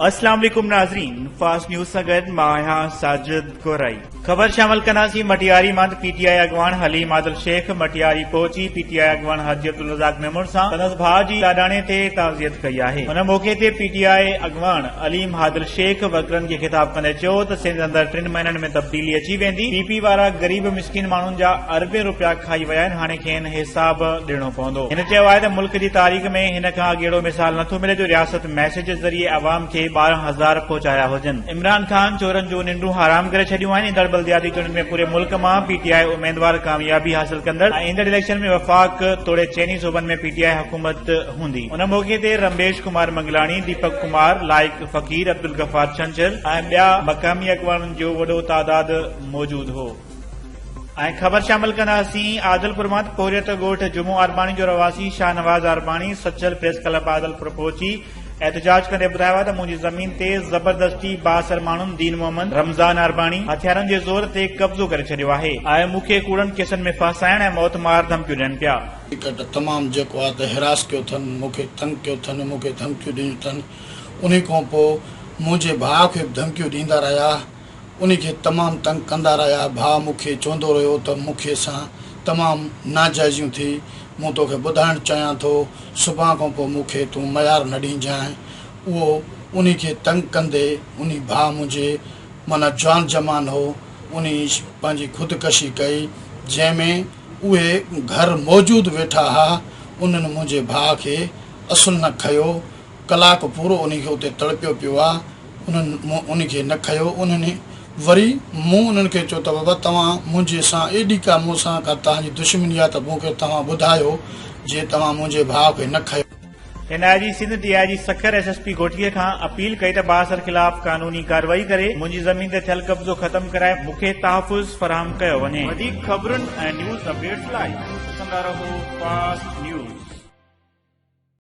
اسلام عليڪم ناظرين فاسٽ نيوز سان گڏ مان آهيان ساجد گورائي خبر شامل ڪنداسين مٽياري مان ته پي ٽي آء اڳواڻ حليم عادل شيخ مٽياري پهچي پي ٽي آء اڳواڻ حاجي عبدالرزاق ميمڻ سان سندس ڀاء جي لاڏاڻي تي تعزيت ڪئي آهي ان موقعي تي پي ٽي آء اڳواڻ عليم عادل شيخ ورڪرن کي خطاب ڪندي چيو ته سنڌ اندر ٽن مهينن ۾ تبديلي اچي ويندي پي پي وارا غريب مسڪين ماڻهن جا اربين روپيا کائي ويا آهن هاڻي کين حساب ڏيڻو پوندو هن چيو آهي ته ملڪ جي تاريخ ۾ هن کان اڳيڙو مثال نٿو ملي جو رياست ميسيج ذريعي عوام کي ٻارهن هزار پهچايا هجن عمران خان چورن جون ننڊون حرام ڪري ڇڏيون آهن، ايندڙ بلدياتي چونڊن ۾ پوري ملڪ مان پي ٽي آء اميدوار ڪاميابي حاصل ڪندڙ ۽ ايندڙ اليڪشن ۾ وفاق توڙي چئني صوبن ۾ پي ٽي آء حڪومت هوندي. ان موقعي تي رميش ڪمار منگلاڻي، ديپڪ ڪمار، لائق فقير، عبدالغفار ڇنڇر ۽ ٻيا مقامي اڳواڻن جو وڏو تعداد موجود هو. ۽ خبر شامل ڪنداسين عادلپور مان ته پورهيت ڳوٺ جمعو عرباڻي جو رهواسي شاهنواز عرباڻي سچل پريس ڪلب عادلپور پهچي احتجاج ڪندي ٻڌايو آهي ته منهنجي زمين تي زبردستي بااثر ماڻهن دين محمد رمضان عرباڻي هٿيارن جي زور تي قبضو ڪري ڇڏيو آهي ۽ مون کي ڪوڙن ڪيسن ۾ ڦاسائڻ ۽ موت مار ڌمڪيون ڏين پيا. ڪرڪٽ تمام جيڪو آهي ته هراس ڪيو اٿن مون کي تنگ ڪيو اٿن مون کي ڌمڪيون ڏنيون اٿن انهي کانپوء منهنجي ڀاء کي به ڌمڪيون ڏيندا رهيا. انهي کي تمام تنگ ڪندا رهيا، ڀاء مون کي چوندو رهيو ته مون کي سان تمام ناجائزيون ٿي، مون تو کي ٻڌائڻ چاهيان ٿو، سڀان کان پوء مون کي تون ميار نه ڏينجانء، اهو انهي کي تنگ ڪندي، انهي ڀاء منهنجي معنيٰ جوان جمان هو، انهي پنهنجي خودڪشي ڪئي، جنهن ۾ اهي گهر موجود ويٺا ها، انهن منهنجي ڀاء کي اصل نه کنيو، ڪلاڪ پورو انهي کي اتي تڙپيو پيو آ، انهن مون ان کي نه کنيو. انهن وري مون انهن کي چيو ته بابا توهان منهنجي سان ايڏي ڪا مون سان ڪا تهان جي دشمني آ ته مون کي توهان ٻڌايو جي توهان منهنجي ڀاء کي نه کنيو. اين I G Sindh D I G Sukkur S S P گهوٽيي کان اپيل ڪئي ته بااثر خلاف قانوني ڪارروائي ڪري منهنجي زمين تي ٿيل قبضو ختم ڪرائي مون کي تحفظ فراهم ڪيو وڃي. وڌيڪ خبرن ۽ نيوز اپڊيٽس لاء ڏسندا رهو فاسٽ نيوز.